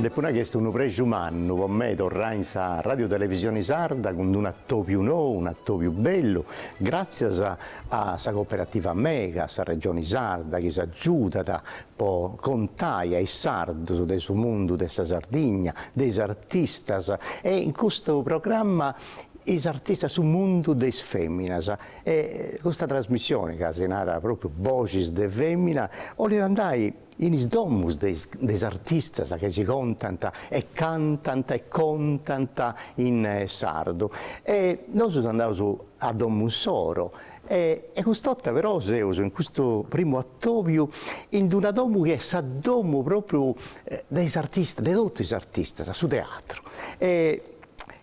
Depu nai chi est unu prexu mannu po mei torrai in sa Radiotelevisioni Sarda cun d-unu atòbiu nou, un atòbiu bellu, gràtzias a sa coperativa Mega, a sa Regioni Sarda chi s'agiudat po contai a is sardus de su mundu de sa Sardigna, de is artistas e in custu programma is artistas su mundu de is feminas e custa trasmissioni ca si narat propriu Boxis de femina 'olit andai in is domus de is artistas ca si contant e cantant e contant in sardu e nosu seus andaus a domu insoro E cust'orta però seus in custu primu atobiu in d'una domu chi est sa domu pròpriu de totu is artistas, su teatru. E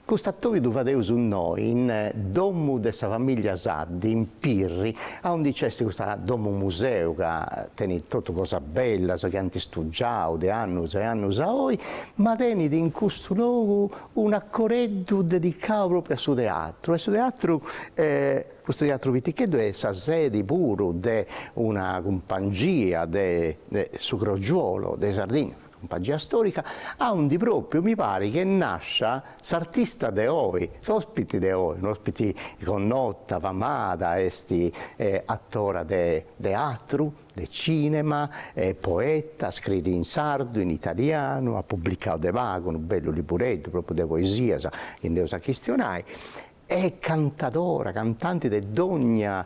cust'atobiu ddu fadeus innoi in domu de sa famìllia Saddi, in Pirri, aundi nc'est custa domu museu ca tenit totu cosas bellas chi ant istugiau de annus e annus a oi, ma tenit in custu logu un'acoreddu dedicau propriu a su teatru e su teatru custu teatru piticheddu est sa sedi puru de una cumpangia de su Crogiuolo de Sardigna, cumpangia storica, aundi propriu mi pari ch'est nàscia s'artista de oi, s'ospiti de oi, un'ospiti connota, famada, est attora de teatru, de tzìnema, est poeta, scriit in sardu, in italianu, at publicau de pagu unu bellu libureddu pròpriu de poesias chi nd'eus a chistionai, est cantadora, cantanti de dònnia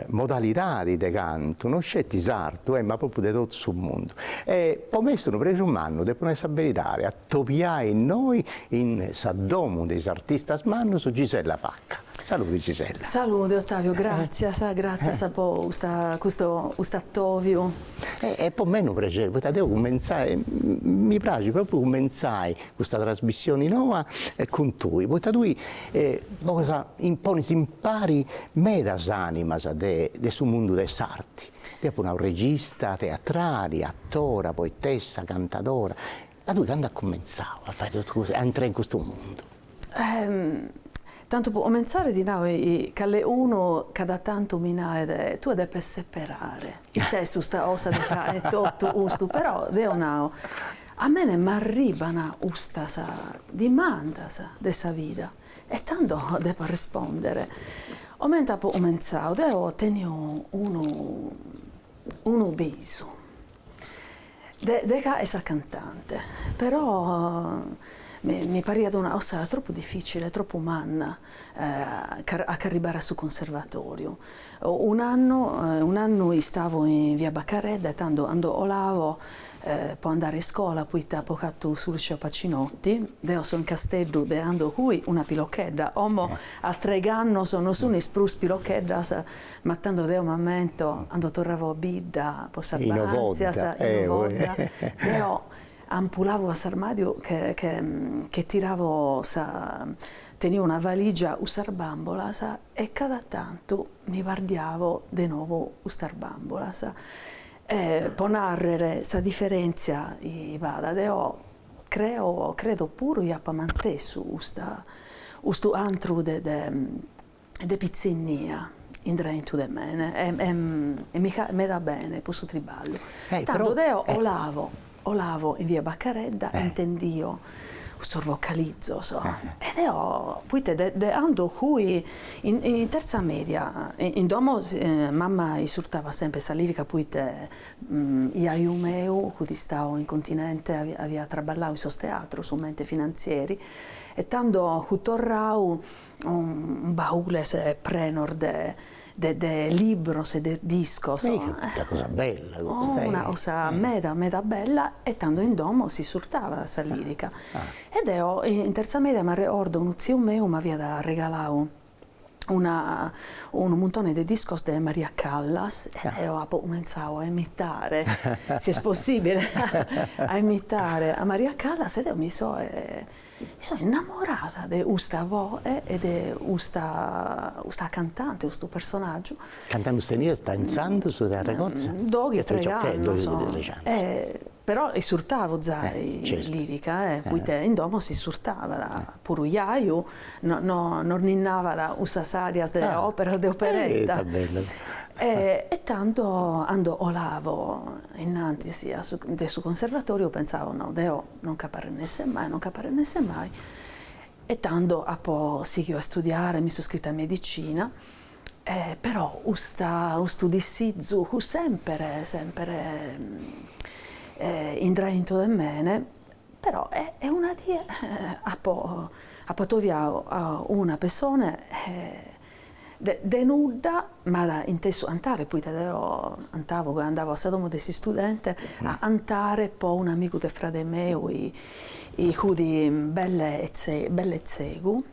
modalidadi de cantu, no sceti sardu, ma pròpriu de totu su mundu. E po mei est unu prexu mannu, depu nai sa beridadi Atobiai innoi in sa domu de is artistas mannus Gisella Vacca. Salude Gisella. Salude Ottavio, gràtzias, gràtzias po custa custu custu atòviu. Est po mei unu prexeri, poita de cumentzai, mi praxit pròpriu cumentzai custa trasmissioni noa cun tui, poita tui ponis impari medas animas de su mundu de s'arti. Deu apu nau regista teatrali, atora, poetessa, cantadora, Ma tui candu as cumentzau a fai totu custu, a intrai in custu mundu? Tantu po comentzare ti nau chi caleunu cada tantu mi naet, tue depes seperare, ita est custa cosa de fai totu custu, però deu nau, a mene m'arriban ustas dimandas de sa vida e tando depo arrespondere. Comente apo cumentzau, deo tenio unu unu bisu, De faere sa cantante, però mi pariat una 'osa tropu dificile, tropu manna a ch'arribare a su conservatoriu. Un'annu un'annu istavo in via Baccaredda e tando 'ando 'olavo po andare a iscola poita apo fatu su liceo Pacinotti, deo so in Casteddu de 'ando fui una pilochedda, 'omo a treg'annos non sunis prus pilocheddas Ma tando deo m'ammento, 'ando torravo a bidda po sas ba'antzias, in Ovodda, deo ampulavo a s'armadiu che tiravo sa, tenio una valigia cussas bambolas e cada tantu mi pardiavo de nou custas bambolas. Po narrer sa differenzia chi b'at, deo creo, credo puru chi appa mantessu custa, custu antru de de pitzinnia indraintu de mene e mi faet meda bene custu triballu, tando deo olavo olavo in via Baccaredda intendio custos vocalizos e deo poita de 'ando fui in terza media in domo mama isurtavat sempre sa lirica poita jaju meu fut istau in continente aviat traballau in sos teatros comente finanzieri e tando fut torrau baules prenos de de libros e de discos. Ehi una cosa bella custa ehi. Una cosa meda meda bella e tando in domo s'isurtavat sa lirica. E deo in terza media m'arregordo unu tziu meu m'aviat arregalau una unu muntone de discos de Maria Callas e deo apo cumentzau a imitare, si est possibile, a imitare a Maria Callas e deo mi so So innamorada de custa voe e de custa cantante, custu personaggiu. Cant'annus teniast intzandus si t'arregodas? Doighi treighi annos, però isurtavo zai lirica, poita in domo si isurtavat, puru jaju nos ninnavat cussas arias de opera de operetta, e tando cando 'olavo innantis de su conservatoriu pensavo, no, deo Non ch'ap'a rennesser mai, non ch'ap'a rennesser mai, e tando apo sighiu a studiare, mi so scrita a medicina, però custa, custu dissizu fut semper, semper indraintu de mene, però e una die apo apo atoviau a una pessone De nudda, m'at intesu antare, poita deo antavo ca andavo a sa domo de s'istudente, a antare po un'amigu de frade meu, 'i fudi belle belle tzegu,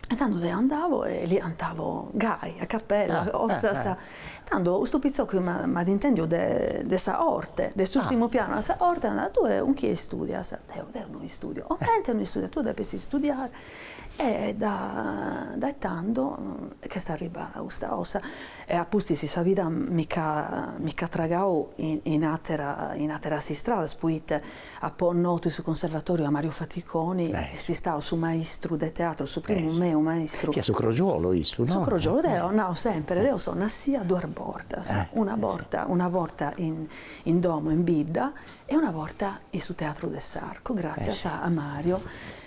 e tando deo andavo e li antavo gai, a capella, cosas, tando custu pitzocu m'at intendiu de sa 'orte, de s'urtimu pianu 'e sa 'orte, at nau, tue 'un chie istudias? Deu, deu no istudio, comente no istudias, tue depis istudiare. E dae tando ch'est arribada custa 'osa. E a pustis sa vida mi ch'at tragadu in àteras istradas, poita apo notu in su Conservatoriu a Mariu Faticoni, est istadu su maistru de teatru, su primu meu maistru. Chi est su Crogiuolo issu, no? Su Crogiuolo, deo nau sempiri, deo so nàssia duas bortas, una borta in domo in Bidda E una borta in su Teatru de s'Arcu, gràtzias a Mario,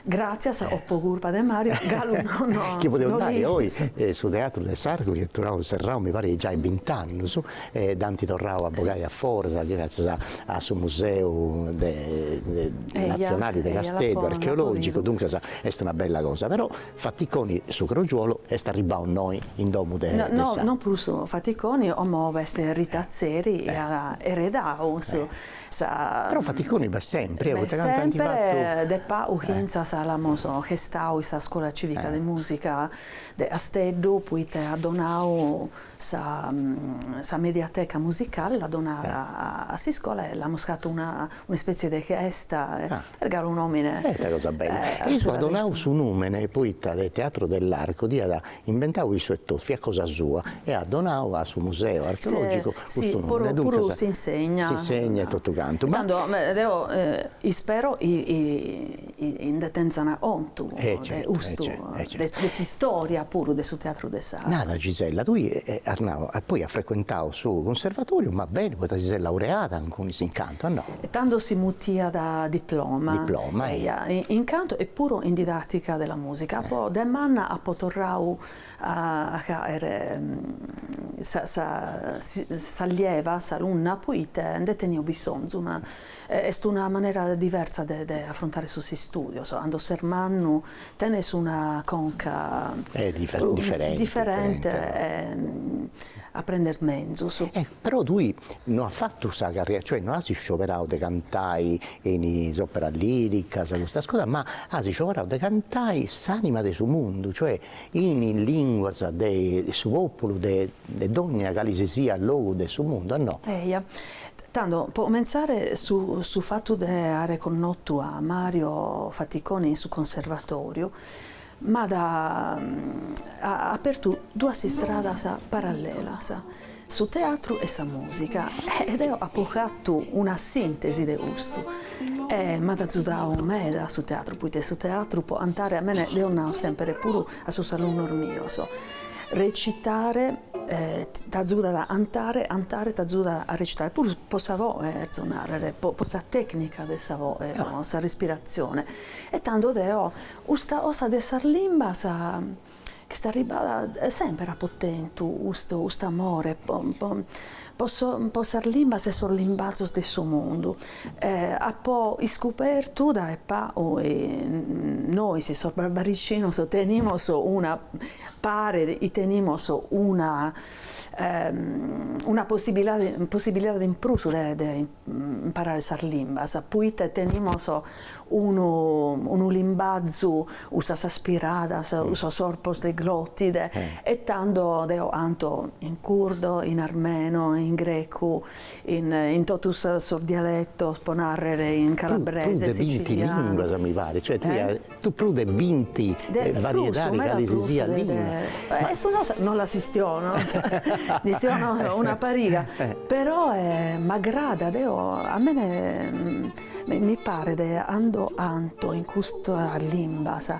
gràtzias o po curpa de Mario, galu no no. Chi podeus nai oi, su Teatru de s'Arcu chi est torrau serrau mi parit giai bint'annus, e dd'ant torrau a bogai a foras, gratzias a su museu de natzionali de Casteddu, archeològicu, duncas est una bella cosa, però Faticoni su Crogiuolo est arribbau innoi in domu de sa. No, no prus Faticoni, 'omo b'est Rita Atzeri, 'i at eredau su sa. Però Faticoni b'est sempri, eh, poita cantu ant fatu. De pau fintzas l'amus festau in sa scola civica de musica de Asteddu, poita at donau Sa mediateca musicale l'at donada a s'iscola e l'amus fatu un'ispètzie de festa, est galu unu òmine. E ita cosa bella! E issu at donadu su nùmene poita de Teatro dell'Arco dd'iat inventadu issu etotu, fiat cosa sua, e at donadu a su museu archeològicu custu nùmene. Duncas. Puru s'insegna. S'insegna e totu cantu. Tando deo ispero chi Nde tenzan 'ontu de custu, de s'istòria puru de su teatru de sa. Nada Gisella, tui as nau, poi as frecuentau su cunservatoriu, ma beni, poita ti ses laureada in cun, in cantu, a no? Tando si mutiat diploma. Diploma, e. In cantu e puru in didàtica de la mùsica. Poi de manna apo torrau. a fàere s'allieva, s'alunna, poita nde tenio bisonzu, ma est una manera diversa de de afrontare sos istudios, 'ando ses mannu tenes una conca diferente e aprendes menzus. Però tui no as fatu sa carriera, cioè no as iscioberau de cantai in is operas liricas custas cosas, ma as iscioberau de cantai s'anima de su mundu, cioè in is lìnguas de su pòpulu de dònnia cale si siat logu de su mundu, no. Eja, tando, po comentzare, su fatu de àere connotu a Mario Faticoni in su Conservatòriu m'at apertu duas istradas parallelas, su teatru e sa mùsica, e deo apo fatu una sìntesi de custu, e m'at atzudadu meda su teatru, poita su teatru pro cantare, a mie, deo nau semper puru a sos alunnos mios, recitare t'atzudat a cantare, cantare t'atzudat a recitare, puru pro sa boe cherzo nàrrere, pro sa tècnica de sa boe, pro sa respiratzione, e tando deo custa cosa de sas limbas ch'est arribada semper apo tentu custu custu amore po po po so po sas limbas e sos limbazos de su mundu e apo iscubertu dae pagu chi nois sos barbaricinos tenimus una paret chi tenimus una una possibilidade possibilidade in prus de de imparare sas limbas, poita tenimus unu unu limbazu, cussas aspiradas, cussos corpos de glotide e tando deo canto in curdo, in armeno, in grecu, in in totu sos dialetos, pro narrer, in calabrese, sicilianu. Tue tenes binti limbas mi paret, cioè tue prus de binti variedades cali si siat limba. E no, non las chistiono, nde chistiono una pariga, però m'agradat, deo a mie mi paret chi cando canto in custas limbas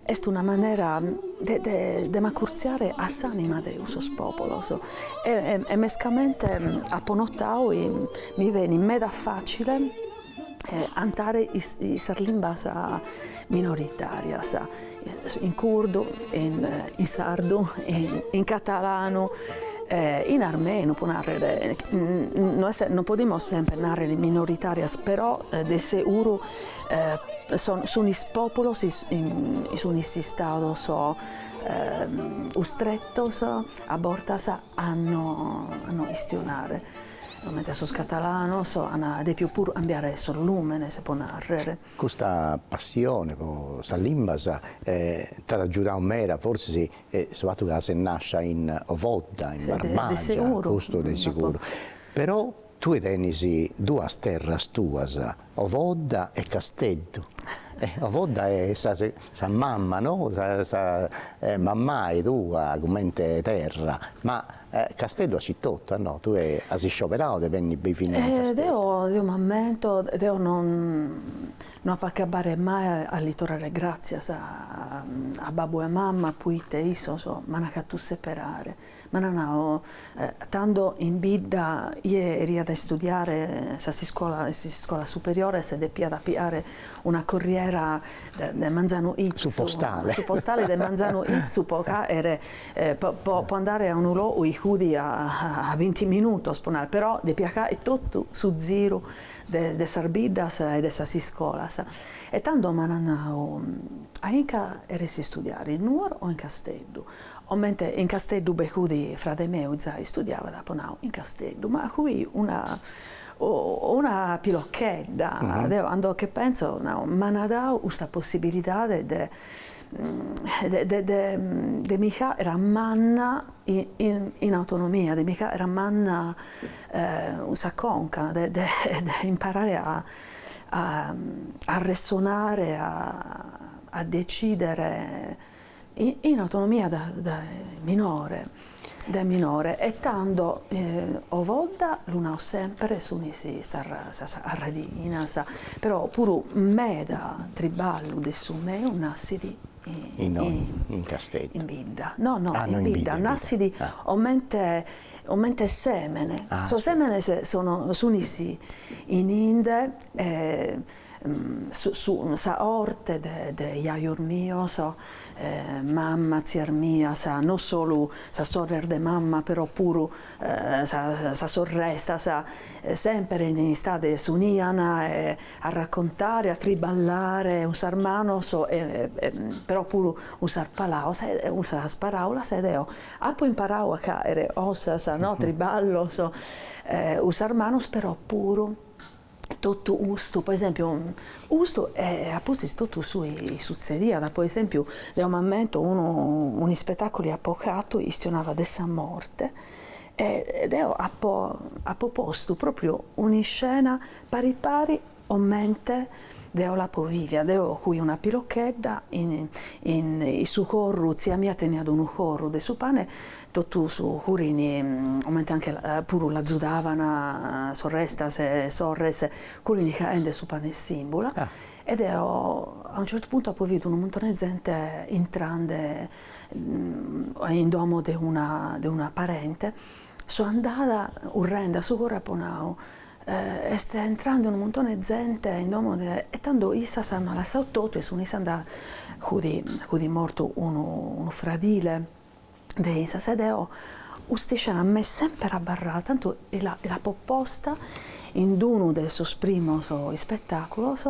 est una manera de de m'acurtziare a s'anima de cussos populos e mescamente apo notadu chi mi benit meda facile cantare sas limbas minoritàrias, in curdu, in sardu, in catalanu, in armenu pro nàrrere, no non podimus semper nàrrere minoritàrias però de seguru sun sunis pòpulos sunis istados custretos a bortas a no a no chistionare Comente sos catalanos an depiu puru cambiare sos lùmenes, pro nàrrere. Custa passione pro sas limbas t'at agiudadu meda, forsis su fatu ca ses nàscia in Ovodda, in Barbagia, custu de seguru, però tue tenis duas terras tuas, Ovodda e Casteddu, Ovodda est sa mama no, sa mammai tua comente terra, ma Casteddu aici etotu, a no, tue as iscioberau de benni a bivi inni in Casteddu. Deo, deo m'ammento, deo non no apo a acabare mai a lis torrare gratzias a babbu e mamma poite issos m'an fatu seperare, m'an nau, tando in bidda chie cheriat a istudiare sas iscola in sas iscolas superiores depiat a piare una corriera de manzanu 'itzu, su postale, su postale de manzanu 'itzu po faere po po andare a unu logu chi fudi a a binti minutos po nai, però depia fai totu su ziru de de sas biddas e de sas iscolas e tando m'an nau, a inca cheres istudiare in Nuoro o in Casteddu? comente in Casteddu bi fudi frade meu chi zai istudiavat, apo nau in Casteddu, ma fui una o una pilochedda, deo cando che penso nau, m'an dau custa possibilidade de de mi faere manna in autonomia, de mi faere manna cun sa conca de imparare a arressonare, a decidere in autonomia de minore. dae minore e tando Ovodda lu nau sempre sunis sas arradichinas però puru meda triballu de su meu nassit in Casteddu in bidda no no in bidda nassit comente comente semene sos semenes sunis in inde e sa corte de jajos mios, mamma, tzias mias, no solu sas sorres de mamma però puru sas sorrestas, semper in istade s'unian a raccontare, a triballare cun sas manos e però puru cun sas palaos cun sas paraulas ed eo apo imparadu a faere cosas no triballos cun sas manos però puru totu custu, po esempiu, custu e a pustis totu su chi sutzediat, po esempiu, deo m'ammento unu un'ispetaculu chi apo fatu chistionava de sa morte e deo apo apo postu propriu un'iscena pari pari comente deo l'apo vivia, deo fui una pilochedda in in su forru, tzia mia teniat unu forru de su pane Totus furini, comente anche puru l'azudavana sorrestas e sorres, furini faende su pane 'e simbula, e deo a un certu puntu apo bidu unu muntone 'e zente intrande in domo de una de una parente, so andada currende a su forru e apo nau, est intrande unu muntone 'e zente in domo de, e tando issas ant lassau totu e sun issas andadas, fut fut mortu unu unu fradile, de issa e deo custa iscena m'est semper abarrada, tantu l'apo posta in d'unu de sos primos ispetàculos,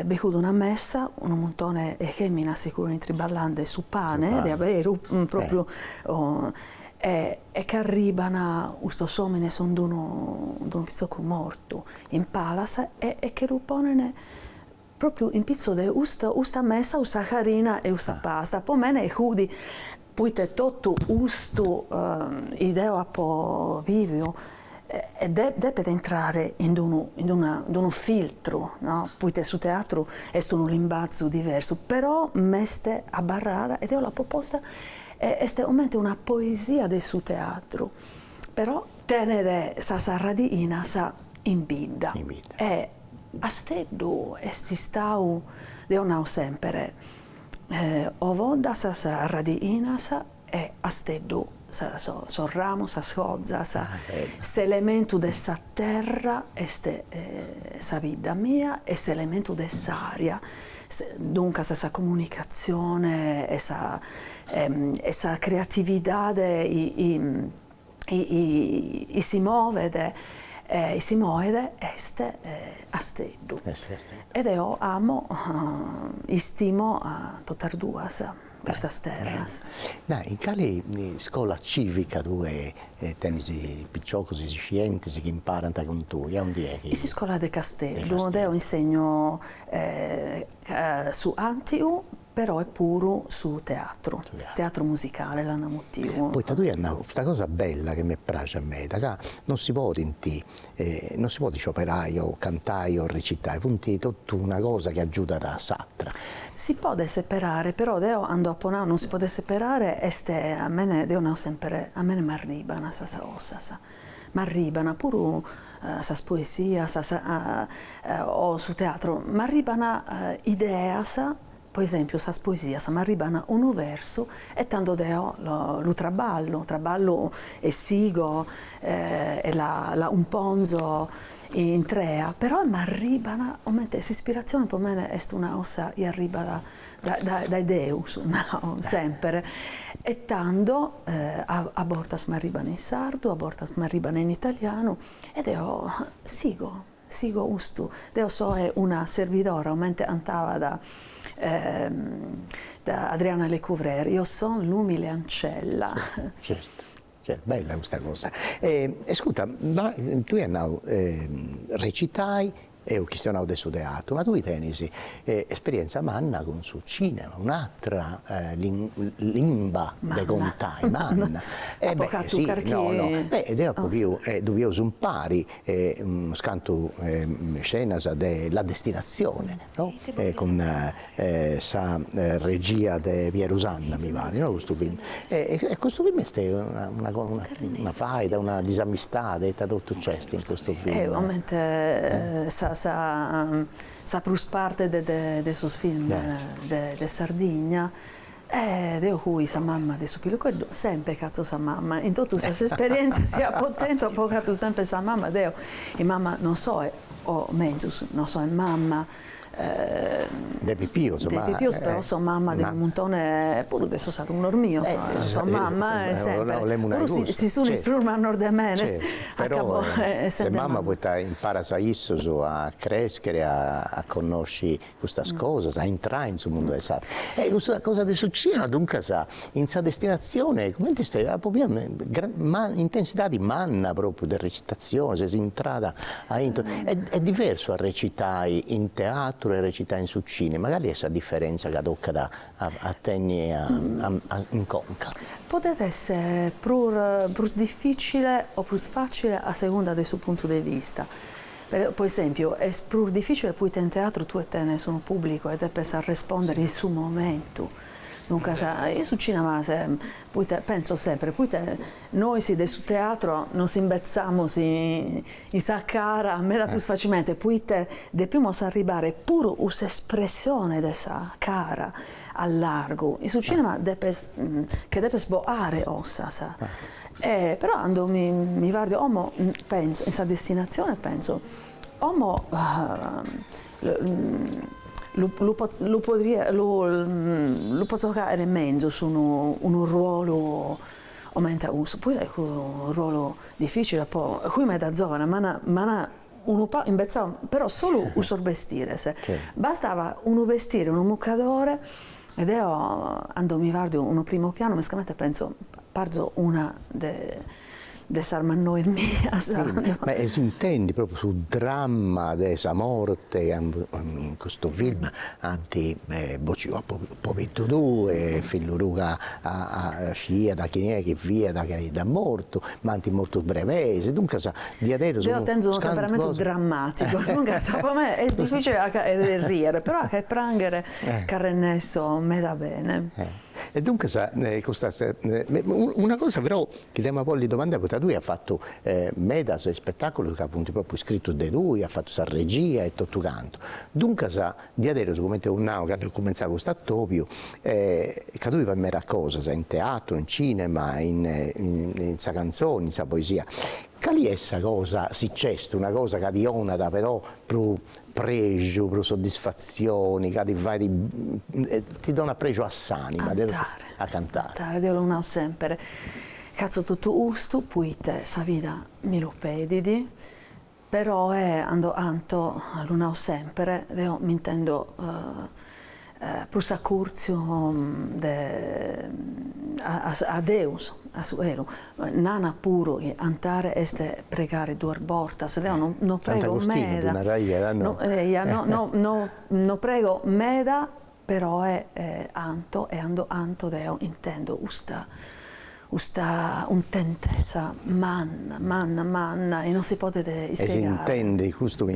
bi fut una mesa, unu muntone 'e feminas chi furint triballande su pane de aberu, propriu, e ch'arriban custos omines cun d'unu pitzocu mortu in palas e che lu ponen Pròpiu in pitzu de custa mesa, custa farina e custa pasta po mene fudi, poite totu custu chi deo apo biviu depet intrare in d'unu in d'una in d'unu filtru, no, poite su teatru est unu limbazu diversu, però m'est abarrada e deo l'apo posta e est comente una poesia de su teatru, però tenet sas radiinas in bidda e Asteddu est istau, deo nau semper, Ovodda sas radiinas e Asteddu sos ramos, sas fozas, s'elementu de sa terra est sa bidda mia e s'elementu de s'aria, duncas sa comunicatzione e sa creatividade si movet si moet est Asteddu e deo amo istimo a totas duas custas terras. Ma in cali iscola civica tui tenis piciocus iscientis chi imparant cun tui, aundi est? In s'iscola de Casteddu, deo insegno Su àntiu però est puru su teatru, teatru musicale l'ana mutiu. Poita tui as nau custa cosa bella chi m'est praxia meda, ca non si podint, non si podit scioberai o cantai o recitai, funt totu una cosa chi agiudat a s'atra. Si podet seperare, però deo cando apo nau non si podet seperare est a mene, deo nau semper, a mene m'arriban sas osas. M'arriban puru sas poesias o su teatru, m'arriban ideas, po esèmpiu sas poesias, m'arriban unu versu e tando deo lu traballu, traballu e sigo e la cumponzo intrea, però m'arriban comente s'ispiratzione po mene est una cosa chi arribat dae Deus, nau semper, e tando a bortas m'arriban in sardu, a bortas m'arriban in italianu, e deo sigo, sigo custu, deo soe una serbidora, comente cantabat Adriana Lecouvreur, io son l'umile ancella. Certu, certu. Cioè, bella custa cosa. E ascurta, ma tui as nau recitai, eus chistionau de su teatru, ma tui tenis esperienza manna cun su cinema, un'atra limba de contai, manna. Apo fatu carchi. No, no, deu apu biu, ddu bieus impari e unas cantu scenas de La destinazione no cun sa regia de Pieru Sanna mi paret no custu film e e custu film est una una faida una disamistade ite totu nc'est in custu film. E comente sa sa sa prus parte de de sos films de Sardigna E deu cui sa mamma de su piluceddu semper catzo sa mamma in totu sas esperientzias chi apo tentu apo catu semper sa mamma deu in mamma non soe o mezus non soe mamma de pipius de pipius però so mamma de unu muntone puru de sos alunnos mios so mamma e semper puru si sunis prus mannos de mene acabo essende mamma poita imparas a issos a crescher a connosci custas cosas, a intrai in su mundu 'e s'arte. E custa cosa de su cinema duncas in sa destinatzione comente est, una intensidadi manna propriu de recitazione, ses intrada aintru, est est diversu a recitai in teatru e a recitai in su cinema, cali est sa differenzia chi tocat a a tenni a a in conca? Podet esser prus prus difficile o prus facile a segunda de su puntu de vista. Po esèmpiu, est prus dificile poita in teatru tue tenes unu pùblicu e depes a respòndere in su momentu, duncas, in su cinema poita, pentzo sempre, poita nois de su teatru nos imbetzamus in sa cara meda prus facilmente, poita depimus arribare puru u' s'espressione de sa cara a largu in su cinema depes che depes boare ossas e però cando mi mi pardo como penzo in sa destinazione penzo como lu lu lu podia lu lu pozzo caere menzus unu unu ruolu comente a cussu, puru est unu ruolu difficile po cui meda zovana mana mana unu pagu imbetzau, però solu cussos bestires, bastava unu bestire, unu mucadore, e deo cando mi pardo unu primo piano mescamente pentzo, parzo una de de sas mannois mias. Ma s'intendit propriu su dramma de sa morte in custu film, ant bociu a pobiddu tuu e fillu Luca sciiat chini est chi fiat chi dd'at mortu, ma ant mortu is brebeis, duncas diaderus. Deo tenzu unu temperamentu drammaticu, duncas po mei est dificili a ca 'e rìere, però a ca 'e prànghere ch'arrennesso meda bene. E duncas custas, una cosa però chi t'emu a bolli domandai, poita tui as fatu medas ispetàculus ca funt pròpriu iscritus de tui, as fatu sa regia e totu cantu, duncas Diaderus, comente eus nau candu est cumentzau custu atobiu, ca tui fais meras cosas, in teatru, in cinema, in sa cantzoni, in sa poesia, cali est sa cosa, si nc'est una cosa ca ti 'onat però prus prexu, prus soddisfatzioni, ca ti fait, ti donat prexu a s'anima. Cantare. A cantare. Cantare, deu lu nau semper, chi fatzu totu custu poita sa vida mi lu pedit, Peroe ando anto lu nau semper deo m'intendo prus acurtziu de a Deus a su elu nana puru chi antare est pregare duas bortas deo no no prego meda no no no prego meda peroe anto e ando anto deo intendo custa custa untentesa manna manna manna e non si podet ispiegare. E s'intendet custu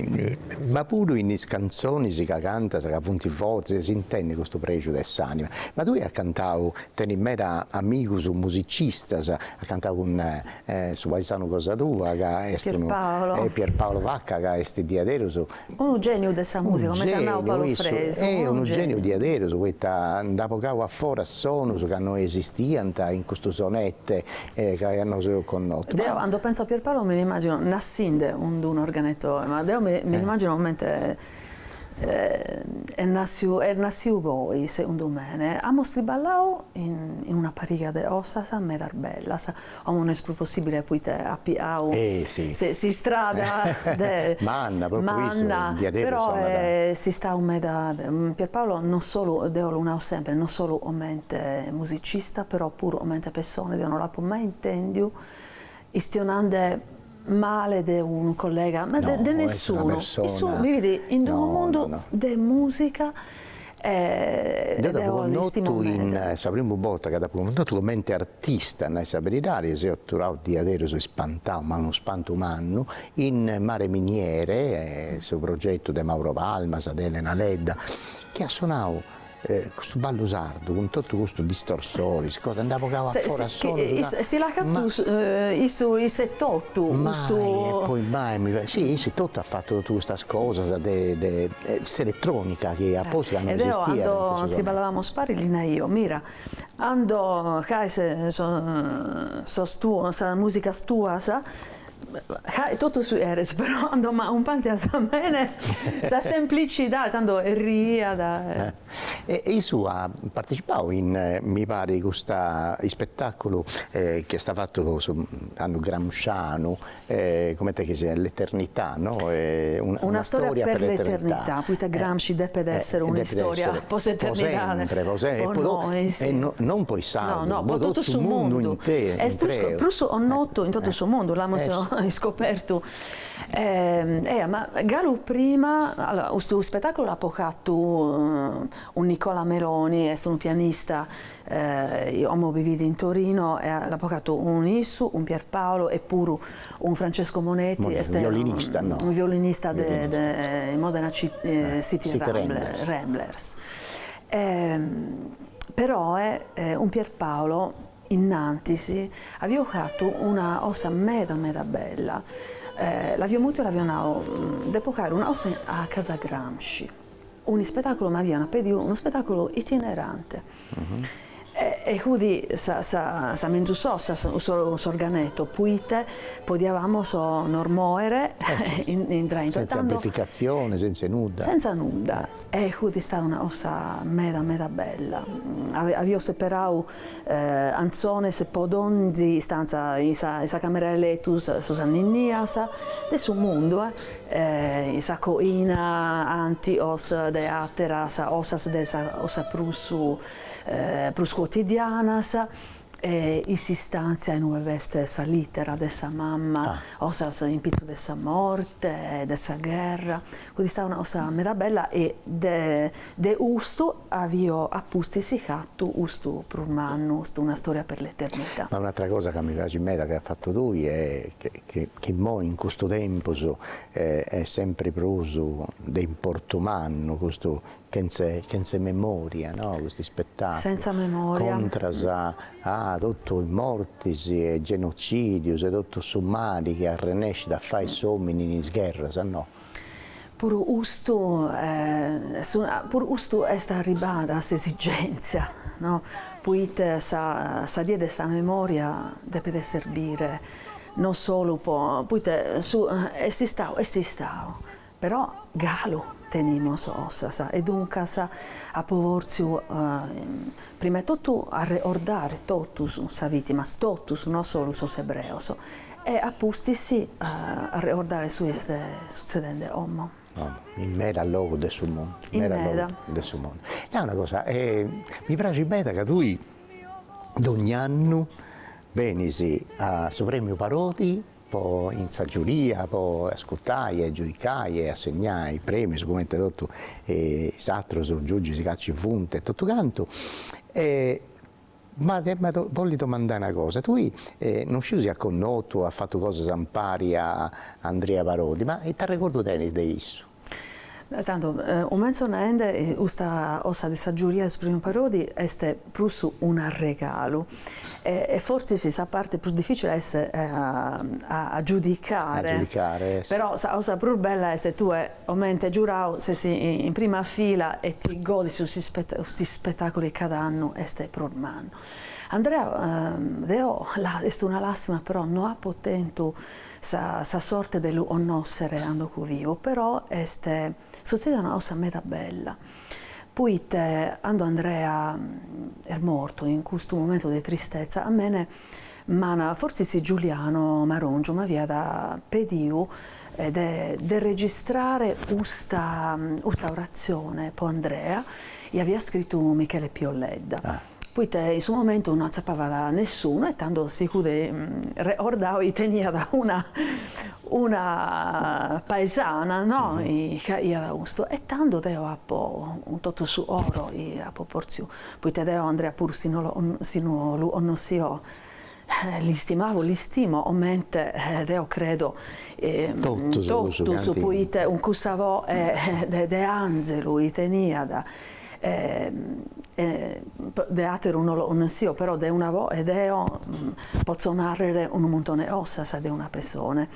ma puru in is cantzonis ca cantas ca funt fortzis s'intendet custu prexu de s'anima. Ma tui as cantau, tenis meda amigus musicistas, as cantau cun su paisanu cosa tua ca est unu Pierpaolo Vacca ca est diaderus Unu geniu de sa musica, comente at nau Paolo Fresu, unu geniu, unu geniu diaderus poita nd'at bogau a foras sonus ca no esistiant in custu sonette ca nosu eus connotu. Deu candu pentzu a Pierpaolo mi nd'imagino nassinde in dd'unu organeto, ma deu mi nd'imagino comente est nassiu, est nassiu goi segundu mene, amus triballau in una pariga de osas medas bellas, Como no est prus possibile poite at piau s'istrada de manna, però est istau meda, Pierpaolo non solu, deo lu nau sempre, non solu comente musicista, però puru comente pessone, deo no l'apu mai intèndiu istionande male de unu collega, ma de nessunu, issu bivit in unu mundu de musica e deo l'istimo meda. Deu t'apo connotu, sa primu borta ca t'apo connotu comente artista, a nai sa beridadi, seu aturau diaderus ispantau, ma unu spantu mannu, in Mare Miniere, su progetu de Mauro Palmas, de Elena Ledda, chi at sonau E custu ballu sardu cun totu custus distorsoris cosa nd'at bogau a foras sonus ca. Chi si l'at fatu issu issu e totu custu. Mai e poi mai mi pariat, si issu e totu at fatu totu custas cosas de de s'eletronica chi at postu ca non esistiat in cussu tempu. Deu cando triballavamus paris li naio, mira, cando ca est sos tuos, sas musicas tuas Ca totu su cheres però cando m'acumpanzias a mene sa semplicidade tando riiat e. E issu at partecipau in mi parit custu ispetaculu chi est fatu su annu gramscianu comente chi siat l'eternità no una storia per l'eternità poita Gramsci depet esser un'istoria po s'eternidade non po is sardus po totu su mundu est prus connotu in totu su mundu l'amus iscopertu ea ma galu prima allora custu spetaculu l'apo fatu cun Nicola Meloni est unu pianista Como bivit in Torino e l'apo fatu cun issu, cun Pier Paolo e puru cun Francesco Moneti, est unu violinista de Modena City Ramblers. Però cun Pier Paolo innantis avio fatu una cosa meda meda bella, l'avio mutu e l'avio nau, depo fàere una cosa a casa Gramsci. un'ispetàculu, m'aviant pediu un'ispetàculu itinerante, e hudi sa menzus cosa, s'organeto, poite podiavamos nos moere sentza amplificatzioni, sentza nudda, e hudi istada una cosa meda meda bella, avia seperau Cantzones po donzi istantza in sa in sa camera 'e letu sos anninnias de su mundu in sa coina cànticos de àteras cosas de cosas prus prus cuotidianas e in s'istàntzia in ue b'est sa lìtera de sa mama cosas in pitzu de sa morte de sa gherra Fut istada una cosa meda bella e de custu avio a pustis fatu custu prus mannu, custu Una storia per l'eternità. Ma un'atra cosa ca mi praxit meda chi as fatu tui est chi immoi in custu tempus est sempri prus de importu mannu custu chentza chentza memoria no, custu ispetaculu, contras a totu is mortis e genocidius e totu su mali chi arrennescit a fai s'omini in is gherras no. Puru custu puru custu est arribada s'esigèntzia, no? Poite sa die de sa memòria depet serbire non solu po poite est istau est istau, però galu tenimus cosas e duncas apo vortziu prima 'e totu arregordare totus sas vìtimas, totus non solu sos ebreos E a pustis arregordare su chi est sutzedende como. In medas logus de su mundu. In meda. De su mundu. Nau una cosa, mi praxit meda ca tui dogn'annu benis a su Premiu Parodi po in sa giuria po ascurtai e giudicai e assegnai premius cumenti totu is atrus giugis ca ci funt e totu cantu e Ma ti bollu domandai una cosa, tui non sciu si as connotu o as fatu cosas ampari a Andrea Parodi, ma ita arregordu tenis de issu? Tando, cumentzo naende, custa cosa de sa giuria de su Premiu Parodi est prus un'arregalu e e fortzis sa parti prus dificili est a giudicare, però sa cosa prus bella est tue Comente giurau ses in prima fila e ti godis custu spettaculu chi cada annu est prus mannu. Andrea deo est una làstima però no apo tentu sa sorte de lu connossere cando fut vivu però est sutzedida una cosa meda bella poite cando Andrea est mortu in custu momentu de tristezza a mene M'ana fortzis Giuliano Marongiu m'aviat pediu de de registrare custa custa oratzione po Andrea, chi aviat scritu Michele Pio Ledda, poite in su momentu no atzapavat nessunu e tando si fut regordau chi teniat una una paesana no, chi aiat custu e tando deo apo cun totu su coro chi apo potziu poite deo Andrea puru si no lu connossio l'istimavo, l'istimo comente deo credo totus poite cun cussa voe de anzelu chi teniat de ateru no lo connossio però de una voe deo potzo narrer unu muntone 'e cosas de una pessone,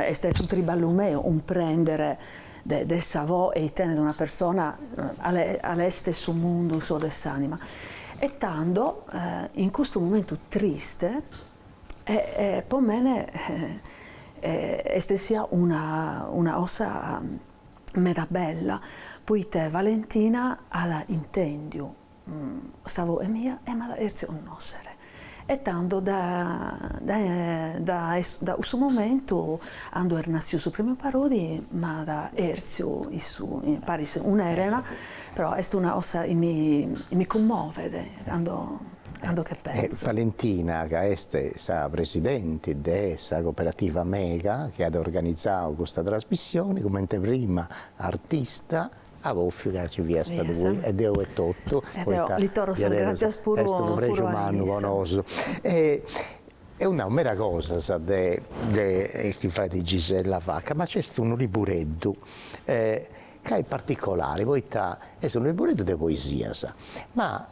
est su triballu meu cumprender de sa voe chi tenet una persona cale est su mundu suo de s'anima e tando in custu momentu triste po mene est essia una cosa meda bella poite Valentina at intendiu Sa voe mia e m'at chertziu connòssere. E tando dae cussu momentu, cando est nassiu su Premiu Parodi, m'at chertziu issa, paris cun Elena, però est una cosa chi mi cummovet cando che penso. Valentina ca est sa presidenti de sa Cooperativa Mega chi at organizau custa trasmissioni, comente prima artista, Apu bòffiu ca ci fiat stadu poi e deo etotu poita diaderus est unu prexu mannu po nosu e eus nau meda cosas de de chi fait Gisella Vacca, ma nc'est unu libureddu e ca est particolari poita est unu libureddu de poesias, ma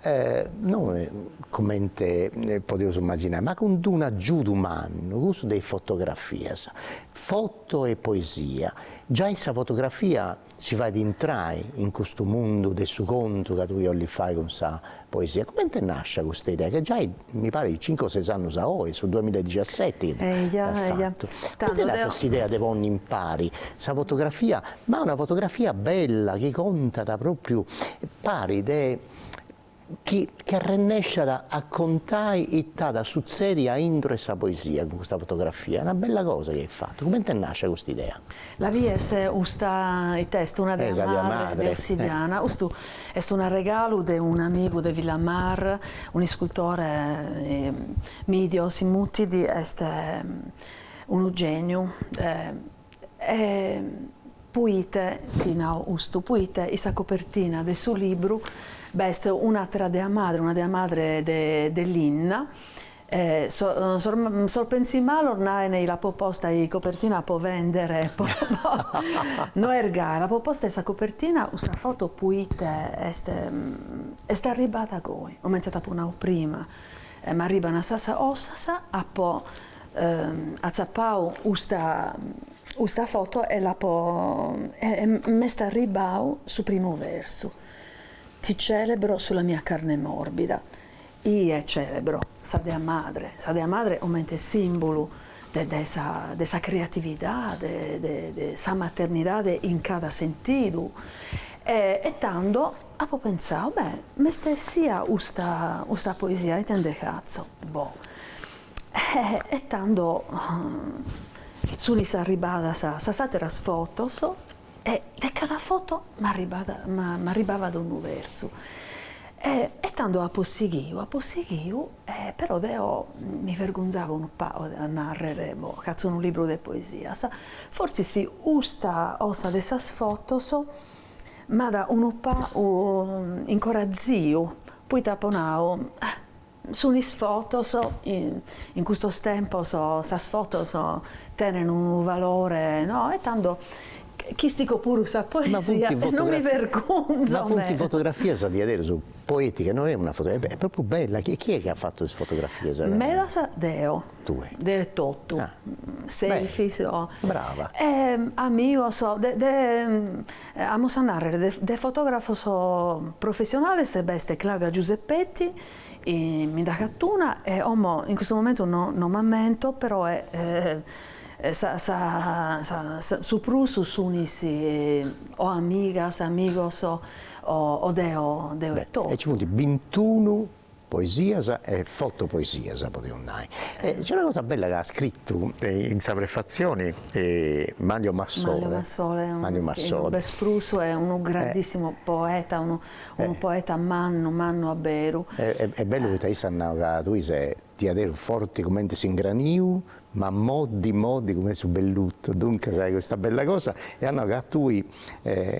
non comente podiaus imaginai, ma cun d'unu agiudu mannu, cussu de is fotografias, foto e poesia, giai sa fotografia Si fait intrai in custu mundu de su contu ca tui 'ollis fai cun sa poesia. Coment'est nàscia custa idea ca giai mi parit cincu o ses annus a oi, su duamilla e dixiaseti chi l'as fatu. Coment'est nàscia s'idea de ponni impari sa fotografia, ma una fotografia bella chi contat propriu pari de chi ch'arrennesciat a contai ita sutzedit a intro 'e sa poesia cun custa fotografia, una bella cosa chi as fatu, coment'est nàscia custa idea? La vies custa, it'est una dea madre de ossidiana, custu est un'arregalu de un'amigu de Villamar, un'iscultore Emidio si mutit, est unu gèniu E poite ti nau custu? Poite in sa copertina de su libru b'est un'atera dea madre, una dea madre de linna, sos pensimalos naene chi l'apo posta in copertina po vendere, no est gasi, l'apo posta in sa copertina custa foto poite est est arribbada goi, comente t'apo nau prima, m'arribbana sas 'ossas, apo atzappau custa foto e l'apo e m'est arribbau su primu versu, ti celebro sulla mia carne morbida, ie celebro sa dea madre, sa dea madre comente simbulu de de sa de sa creatividade, de de sa maternidade in cada sentidu, e tando apo pentzau, beh, m'est essia custa custa poesia ite ndhe fatzo, boh, E tando sunis arribadas sas àteras fotos e de cada foto m'arribat m'arribabat unu versu e e tando apo sighiu apo sighiu e però deo mi vergonzavo unu pagu de narrer, boh, chi 'atzo unu libru de poesias, fortzis custa 'ossa de sas fotos m'at unu pagu incoraziu, poite apo nau Sunis fotos, in custos tempos sas fotos tenen unu valore no, e tando ch'istico puru sa poesia e non mi vergonzo, ma funt fotografias diaderus poeticas, no est una foto, est propriu bella, e chie est chi at fatu is fotografias? Medas deo, deo etotu, selfies, brava, e amigos de Amus a nàrrere de de fotògrafos professionales b'est Claudia Giuseppetti, mi nd'at fatu una e como in custu momentu no no m'ammento peroe sa sa sa su prus sunis o amigas amigos o o deo deo etotu. Beh e nci funt bintunu poesias e fotopoesias podimus nai, e nc'est una cosa bella ca at scritu in sa prefatzioni Manlio Massole, Manlio Massole, est prus unu grandissimu poeta, unu unu poeta mannu mannu a beru, e bellu poita issu at nau ca tui ses diaderu forti cumenti s'ingraniu Ma moddi moddi cum'e su bellutu, duncas hai custa bella cosa e at nau ca a tui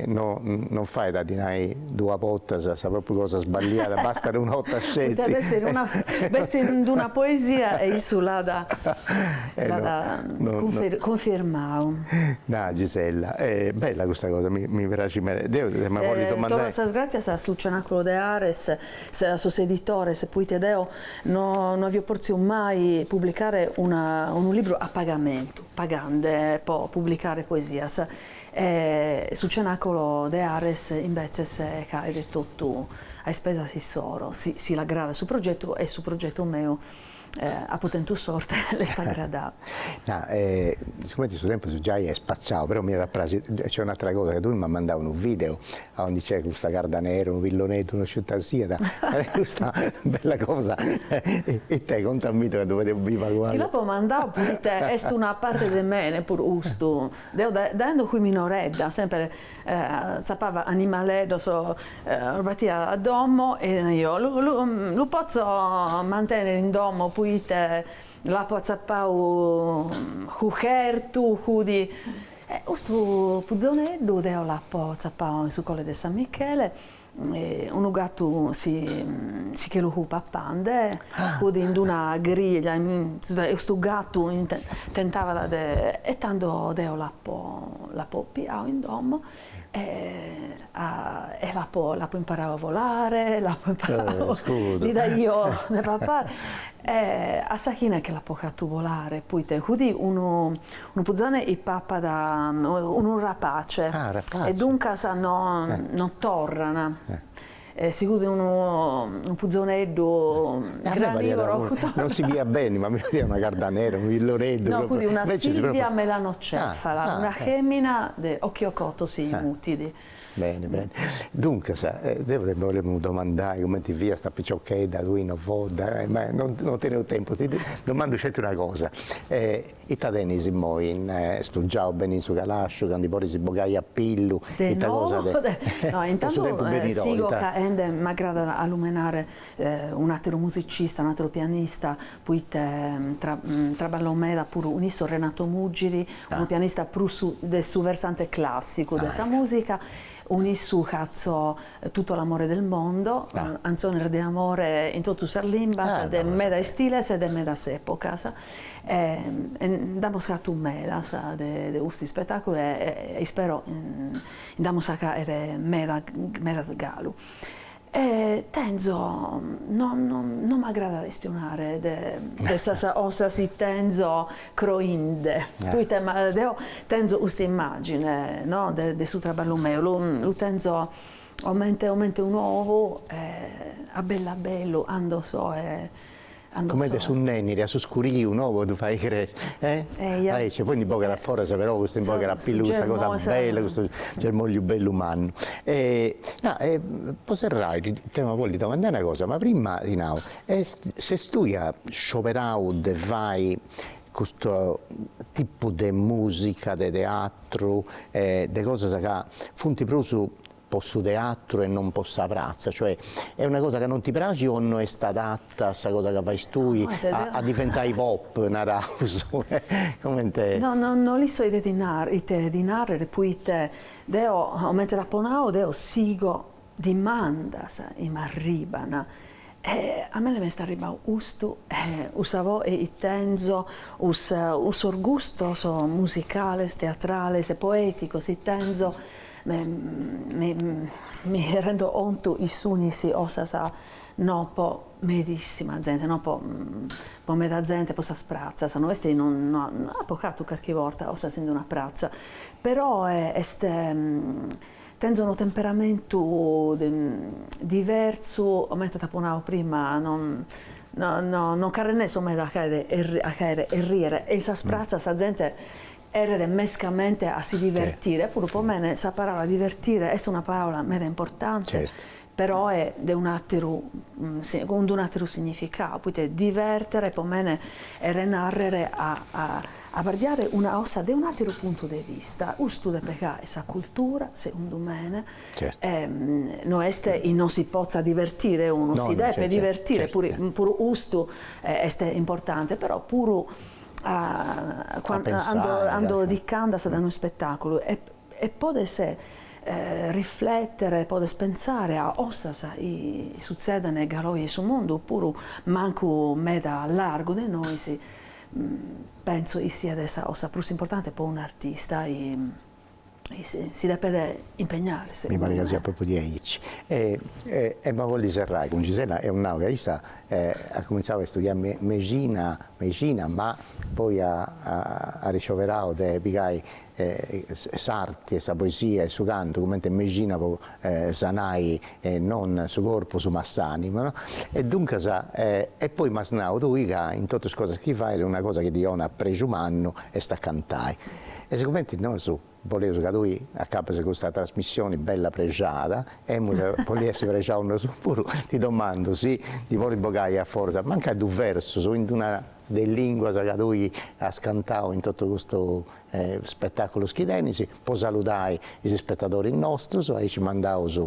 no no fait a ddi nai duas bortas sa propriu cosa sballiada, bastat una 'orta sceti. Poita b'est in una b'est in d'una poesia e issu l'at l'at cunfirmau. Na Gisella, bella custa cosa, mi mi praxit meda, deu de Mabolli domandai. Torro sas gràtzias a su Cenacolo de Ares. a sos editores, proite deo no no avio pòrtziu mai publicare una unu libru a pagamentu, pagande pro publicare poesias, e su Cenacolo de Ares imbetzes faet totu a ispesas issoro, si si l'agradat su progetu e su progetu meu Apo tentu sorte, l'est agradau. Na, sigumenti su tempus giai est spaciau, però m'iat a praxi, nc'est un'atera cosa, ca tui m'as mandau unu video aundi nc'est custa cardanera, unu pilloneddu, no sciu ita siat, custa bella cosa, it'est, conta mi ita ca ddu fadeus biri acoa. Ti l'apo mandau poita est una parte de mene puru custu, deo dae cando fui minoredda semper Tzapava animaleddos los batia a domo e naio lu potzo mantenere in domo poite l'apo atzapau fut fertu fut e custu puzoneddu deo l'apo atzapau in su colle de San Michele Unu gatu si si che lu fut papande fut in d'una griglia e custu gatu tentavat de e tando deo l'apo l'apo piau in domo e a e l'apo l'apo imparau a volare l'apo imparau li daio de pappai e a sa fine che l'apo fatu bolare poita fut unu Unu puzone chi pappat unu rapace e duncas no torran. Si fut unu puzoneddu granivoro. Non si bidiat beni ma mi pariat una cardanera, unu pilloneddu. No fut una silvia melanocefala, una femina de occhiocotto si mutit. Beni beni, duncas deu ti bolemu domandai cumenti fiast a piciochedda tui in Ovodda, ma no teneus tempus, ti domandu sceti una cosa, ita tenis immoi stugiau beni in su calasciu ca ndi podis bogai a pillu, ita cosa de nou intantu sigo ca e nde m'agradat alumenare un'ateru musicista, un'ateru pianista, poite traballo meda puru cun issu Renato Muggiri, unu pianista prus de su versante clàssicu de sa mùsica, cun issu chatzo Tutto l'amore del mondo, cantzones de amore in totu sas limbas, de meda istiles e de medas epocas, e nd'amus chatu medas de custu ispetàculu e ispero nd'amus a caere meda galu. E tenzo, no no m'agradat estionare de de sas osas chi tenzo croinde, poita ma deo tenzo custa immagine no de de su traballu meu, lu lu tenzo comente comente un'ou e a bellu a bellu ando so e Comente su nenniri a su scuriu no po ddu fai cresci e aici poi ndi bogat a foras però custu ndi bogat a pillu custa cosa bella custu germògliu bellu mannu e na e po serrai ti bollu domandai una cosa ma prima ti nau est si tui as scioberau de fai custu tipu de musica de teatru e de cosas ca funt prus po su teatru e non po sa pratza, cioè est una cosa ca non ti praxit o no est adatta sa cosa ca fais tui a diventai pop, naraus, comente. No no no l'isco ite ti naro, ite ti narrer poita deo comente t'apo nau deo sigo dimandas chi m'arriban e a mene m'est arribau custu e cussa voe chi tenzo cussos gustos musicales, teatrales, poeticos chi tenzo Mi rendo contu chi sunis osas no po medissima zente no po po meda zente po sas pratzas no est no nd'apo chatu carchi borta osas in d'una pratza peroe est tenzo unu temperamentu diversu comente t'apo nadu prima no no no non c'arrennesso meda a caere a caere erriere e in sas pratzas sa zente Cherret mescamente a si divertire, puru po mene sa paraula divertire est una paraula meda importante, peroe de un'ateru, cun d'un'ateru significau, poite divertere po mene cherret narrere a abardiare una osa de un'ateru puntu de vista, custu depet caere sa cultura, segundu mene, no est chi no si potzat divertire unu, si depet divertire, puru custu est importante, però puru a ando ti ch'andas dae unu ispetàculu e podes riflètere, podes pentzare a ossas chi sutzedent galu oe in su mundu, o puru mancu meda largu de nois, pentzo chi siat sa ossa prus importante po un'artista si depet impegnare segundu me. Mi paret ca siat propriu diaici. Emu a bolli serrai cun Gisella, eus nau ca issa at cumintzau a istudiai mexina ma poi at scioberau de pigai s'arti e sa poesia e su cantu cumenti mexina po sanai non su corpus ma s'anima no e duncas e poi m'as nau tui ca in totu is cosas chi fais una cosa chi ti onat prexu mannu est a cantai e sigumenti nosu boleus ca tui acabis custa trasmissioni bella prexada e emus bolli essi prexaus nosu puru ti domandu si ti bolis bogai a forza mancai duus versus in d'una de is lìnguas ca tui as cantau in totu custus spetàculus chi tenis, po saludai is spetadoris nostus, aici mandaus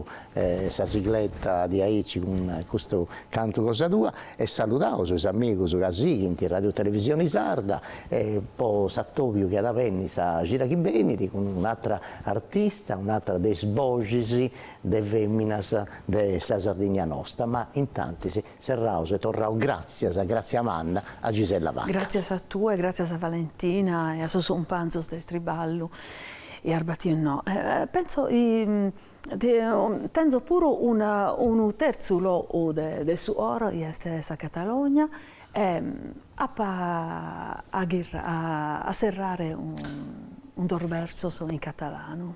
sa sigleta diaici cun custu cantu cosa tua e saludaus is amigus ca sighint Radiotelevisioni Sarda e po s'atobiu chi at a benni sa cida chi benit cun un'atra artista, un'atra de is boxis de feminas de sa Sardigna nosta, ma intantis Serraus e torraus gràtzias, gràtzia manna, a Gisella Vacca. Gràtzias a tue, gràtzias a Valentina e a sos cumpanzos del triballu e arbatiu no. Pentzo chi tenzo puru una unu terzu logu de su oro chi est sa Catalogna e apo a serrare cun duos versos in catalanu.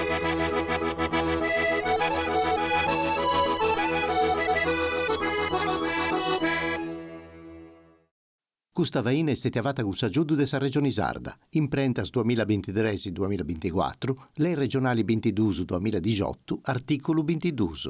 Custa faina est stètia fata cun s'agiudu de sa Regioni Sarda, imprentas duamilla bintitres-duamilla binticuatru, Lei Regionali bintiduus-duamilla dixiotu, artìculu bintiduus.